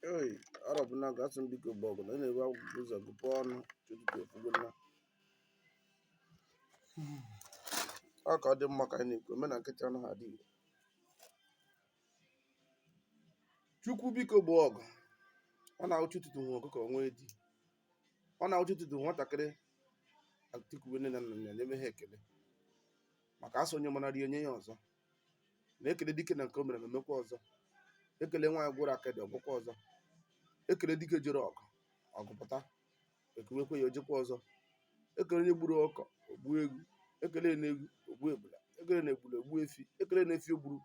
Hey, Arọbụnagụ asị m biko gboo ọgụ na na-ewe agụpụ ụzọ agụpụ ọnụ ụtụtụ efogo na ọ ka ọ dị mma ka anyị na-ekwu omena nkịtị anaghị adị igbo chukwu biko gboo ọgụ ọ na-awụ chi ụtụtụ nwe ọkụkọ nwee di ọ na-awụ chi ụtụtụ nwatakịrị etikuwe nne na nna ya na-eme ha ekele maka asị onye mara rie nye ya ọzọ na-ekele dike na nke o mere o mekwa ọzọ ekele nwaanyị gworo akịdị o gwokwa ọzọ ekele dike jere ọgụ ọgụ pụta ekuwekwa ya o jekwa ọzọ ekele onye gburu ọkụkọ o gbu ewu ekele na ewu o gbu ebula ekele na ebula o gbu efi ekele na efi o gburu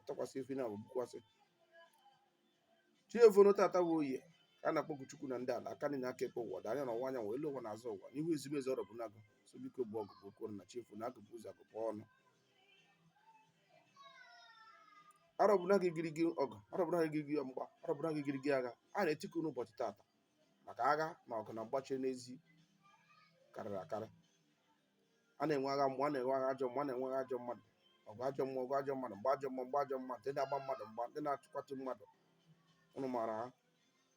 tụkwasị efi na agba gbukwasị chi efono tata bụ oye ka a na-akpọku chukwu na ndị ala aka nri na aka ekpe ọda anya na ọwa anyanwụ elu ụwa na azụ ụwa n'ihu ezigbo eze Arọbụnagụ sị biko gboo ọgụ okwu na chi efono agụpụ ụzọ agụpụ ọnụ Arọbụnagụ igirigi ọgụ Arọbụnagụ igirigi mgba Arọbụnagụ igirigi agha a na-etiku n'ụbọchị tata maka agha na ọgụ na mgba chie n'ezi karịrị akarị a na-enwe agha mgbe a na-enwe agha ajọ mmụọ a na-enwe agha ajọ mmadụ ọgụ ajọ mmụọ ọgụ ajọ mmadụ mgba ajọ mmụọ mgba ajọ mmadụ ndị na-agba mmadụ mgba ndị na-achụkwatụ mmadụ unu maara ha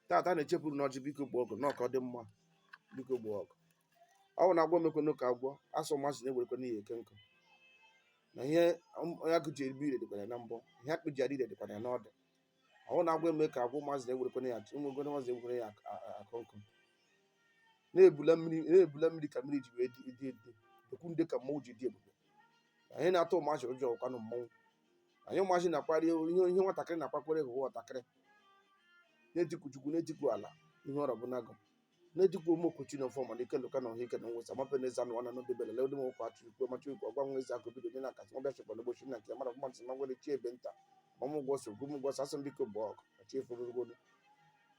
tata a na-echepụrụ n'ọjị biko gboo ọgụ n'ọka ọ dị mma biko gboo ọgụ ọ bụ na agwọ emekwenụ ka agwọ asị ụmụazị na-ewerekwene ya eke nkụ na ihe agụ ji ebi ire dịkwara ya na mbọ ihe akpị ji adị ire dịkwara ya n'ọdụ ọ wụ na agwọ eme ka agwọ ụmụazị na-ewerekwene ya ụmụgode ụmụazị ewere ya eke nkụ na ebili mmiri na ebili mmiri ka mmiri ji wee dị dị dị egwu ndị ka mmanwụ ji dị ebube anyị na-atụ ụmụazị ụjọ ọ kwanụ mmanwụ anyị ụmụazị na-akparị ihe ihe nwatakịrị na-akpakwere bụ nwatakịrị na-etiku chukwu na-etiku ala ihe Arọbụnagụ na e jikwa ụmụ okochi na ọfọ mana ike lụka na ọha ike na nwesa mape na eze anụ wana n'obi bele lewede m ụkwa achụ ikwu machi ikwu ọgwa nwa eze akụ bido nye na akasị nwa bịachịkwa na ụbọchị na nke mara ọgwa nsị magwere chi ebe nta ma mụ gwọ so gwụ gwọ asị m biko gboo ọgụ na chi eforogo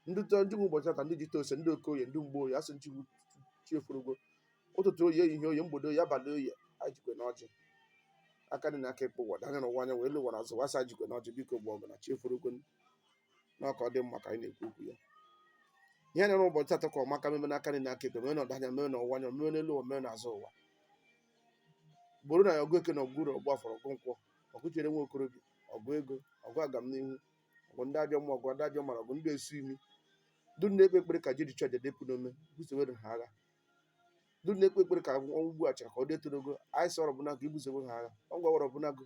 ndị tọ ndị nwe ụbọchị tata ndị ji tose ndị okoye ndị mgboye asị nchigbu chi eforogo ụtụtụ oye ehihie oye mgbede oye abalị oye anyị jikwe na ọjị aka nri na aka ekpe ọda anya na ọwa anyanwụ elu ụwa na azụ ụwa asị jikwe na ọjị biko gboo ọgụ na chi eforogo na ọka ọ dị mma ka anyị na-ekwu okwu ya ihe na-ere ụbọchị taata ka ọmaka meme n'aka nri n'aka ekpe mee na ọda anya mee na ọwụwa anya mee n'elu ụwa mee n'azụ ụwa gbooro anyị ọgụ eke na ọgụ oye ọgụ afọ na ọgụ nkwọ ọgụ chere nwa okorobịa ọgụ ego ọgụ agamnihu ọgụ ndị ajọ mmụọ ọgụ ndị ajọ mmadụ ọgụ ndị esu imi ndị na-ekpe ekpere ka e jiri chụọ aja depụ n'ome busowere ha agha ndị na-ekpe ekpere ka ọnwụ ugbu a chara ka ọ dịtụrụ ogo anyị sị Arọbụnagụ i busowe ha agha ọgụ Arọbụnagụ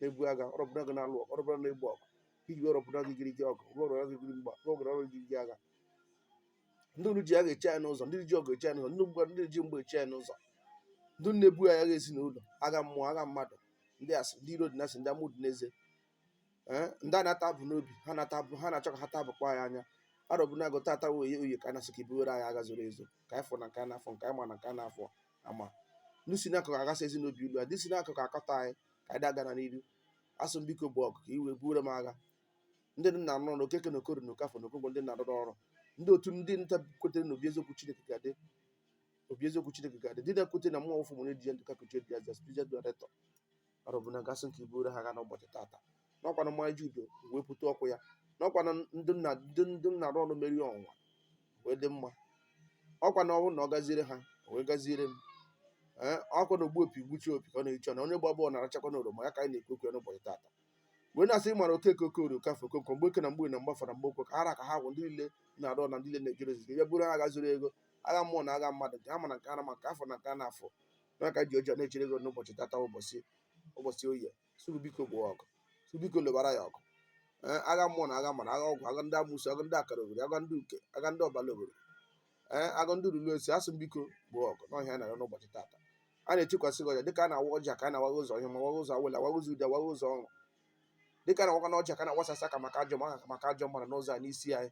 na-ebu agha arọbụnagụ na-alụ ọgụ arọbụnagụ na-egbu ọgụ iji arọbụnagụ girigiri ọgụ rụọ arọbụnagụ girigiri mgba rụọ arọbụnagụ girigiri agha ndị unu ji agha eche anyị n'ụzọ ndị ji ọgụ eche anyị n'ụzọ ndị mgba ndị ji mgba eche anyị n'ụzọ ndị na-ebu anyị agha ezinụlọ agha mmụọ agha mmadụ ndị asị ndị iro dị na asị ndị amụ dị n'eze ee ndị a na-ata abụ n'obi ha na-ata abụ ha na-achọ ka ha taa abụkwa anyị anya arọbụnagụ tata oye oye ka a na-asị ka i buwere anyị agha zoro ezo nke anyị fọ na nke a na-afọ nke anyị ma na nke a na-afọ ama ndị si n'akụkụ aghasa ezi n'obi ilu a ndị si n'akụkụ akọta anyị ka anyị dagara n'iru asị m biko buo ọgụ ka i wee buoro m agha ndị nna nọ na okeke na okorie na okafọ na okonkwọ ndị na-arụrụ ọrụ ndị otu ndị nta kwetere na obi eziokwu chineke ga-adị obi eziokwu chineke ga-adị ndị na-ekwete na mmụọ ụfụ mụrụ di ya ndụ ka kuchie di ya zas pizet dọretọ ma arọbụnagụ asị m ka i buru ha agha n'ụbọchị tata n'ọkwanụ mmanya ju udu wepụta oku ya n'ọkwanụ ndị nna ndị ndị na-arụ ọrụ mere ụwa wee dị mma ọkwa na ọnwụ na ọ gaziere ha o wee gaziere m ee ọkwa na ogbu opi gbuchaa opi ka ọ na-eche na onye gba bọọlụ na-arachakwa na oroma ya ka anyị na-ekwu okwu ya n'ụbọchị tata wee na-asị ịmara okeke okorie okafọ okonkwọ mgbeke na mgborie na mgbafọ na mgbokwọ ka ha ra ka ha gwụ ndị niile na-arụ ọrụ na ndị niile na-ejere ozi gị ya buru ha agha zuru ego agha mmụọ na agha mmadụ nke ha ma na nke ha na-ama nke ha fọ na nke a na-afọ n'aka ji ọjị a na-echere gị n'ụbọchị tata ụbọchị ụbọchị oye sịrị biko buo ọgụ sị biko lụbara anyị ọgụ ee agha mmụọ na agha mmadụ agha ọgwụ agha ndị amusu agha ndị akara obodo agha ndị uke agha ndị ọbala obodo ee agha ndị ruru esi asị m biko buo ọgụ na ọ ihe a na-arịọ n'ụbọchị tata a na-echekwasị gị ọjị a dịka a na-awa ọjị a ka a na-awa anyị ụzọ ihe ọma waa anyị ụzọ awele awa anyị ụzọ ude awa anyị ụzọ ọrụ dịka a na-awakwanụ ọjị a ka na-awasasị aka maka ajọ maka maka ajọ mmadụ n'ụzọ a n'isi anyị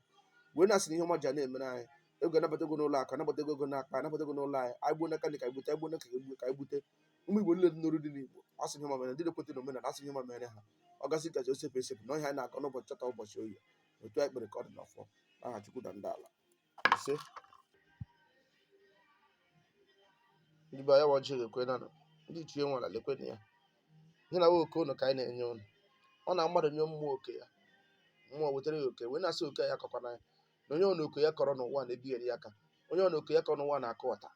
wee na-asị na ihe ọma ja na-emere anyị ego anabata ego n'ụlọ akụ anabata ego ego n'akpa anabata ego n'ụlọ anyị anyị gbuo n'aka nri ka gbute anyị gbuo n'aka ịkpa anyị gbute ụmụ igbo niile dị n'oru dị n'igbo asị ihe ọma mere ndị na-ekweta na omenala asị ihe ọma mere ha ọ gasị agasị o sepụ esepụ na ọ ihe anyị na-agọ n'ụbọchị tata ụbọchị oye otu anyị kpere ka ọ dị n'ọfọ aha chukwu na ndị ala isee ndị be anyị wa ọjị ga-ekwe na nọ ndị ichie nwara lekwe na ya ihe na oke ụnụ ka anyị na-enye ụnụ ọ na mmadụ nye mmụọ oke ya mmụọ wetara ya oke wee na-asị oke ya kọkwana ya na onye ọ na oke ya kọrọ n'ụwa na-ebigheri ya aka onye ọ na oke ya kọrọ n'ụwa na-akụ ọta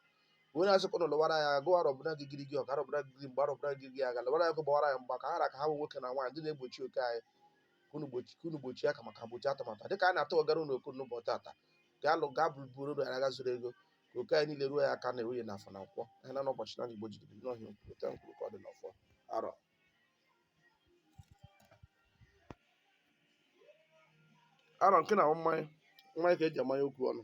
wee na-asị ka ụnụ lụwara anyị ọgụ arọbụnagụ girigiri ọgụ arọbụnagụ girigiri mgba arọbụnagụ girigiri agha lụwara anyị ọgụ gbawara anyị mgba ka ha ra ka ha bụ nwoke na nwaanyị ndị na-egbochi oke anyị ka unu gbochi- ka unu gbochie aka maka gbochie atụmatụ a. dịka a na-atụ ọgara unu oku n'ụbọchị tata ka unu gaa buru uru agha zuru ego ka oke anyị niile ruo anyị aka na oye na afọ na nkwọ ha na ụbọchị anọ igbo ji ebiri na ọ ihe a okwu otu anyị kwuru ka ọ dị n'ọfọ arọ arọ nke na ọ mmanya mmanya ka eji amanye okwu ọnụ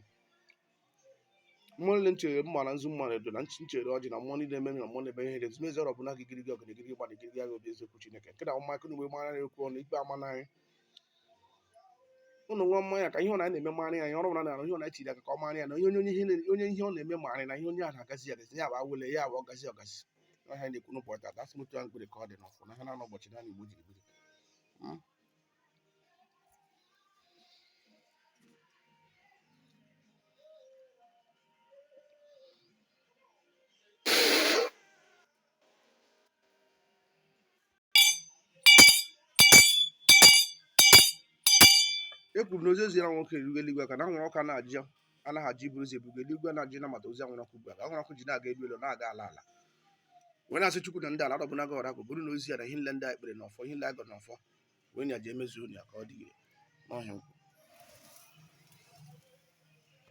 mmụọ niile nchere mma na nzu mma na edo na nch- nchere ọjị na mmụọ niile mere na mmụọ na-eme ihe dezi mezi ọrọbụ na gịgịrị gị ọgụ na gịgịrị gba na gịgịrị agha obi eziokwu chineke nke na ọma akụ na mgbe mara na-ekwu ọnụ ikpe ama n'anyị ụnụ nwa mmanya ka ihe ọ na na-eme mara ya ihe ọrụ na na ihe ọ na-echiri aka ka ọ mara ya na onye onye ihe na- onye ihe ọ na-eme mara na ihe onye ahụ agazi agazi ya bụ awele ya bụ ọgazi ọgazi ọhịa na-ekwu n'ụbọchị ata asị m otu ahụ m kpere ka ọ dị n'ọfọ na ha na-anọ ụbọchị naanọ igbo jiri biri e kwuru na ozi e ziri anwụrụ ọkụ erugo eluigwe maka na anwụrụ ọkụ na-ajụ anaghị ajụ iburu ozi buga eluigwe anaghị ajụ ịnabata ozi anwụrụ ọkụ ọ bụ ya mere ọkụ ji na-aga elu elu na-aga ala ala wee na-asị chukwu na ndị ala dọbụnaga ọra bụ bụrụ na ozi ya na ihe niile ndị a e kpere n'ọfọ ihe niile agọ n'ọfọ wee na-eji emezu ya ka ọ dị ire n'ọhịa nkwụ.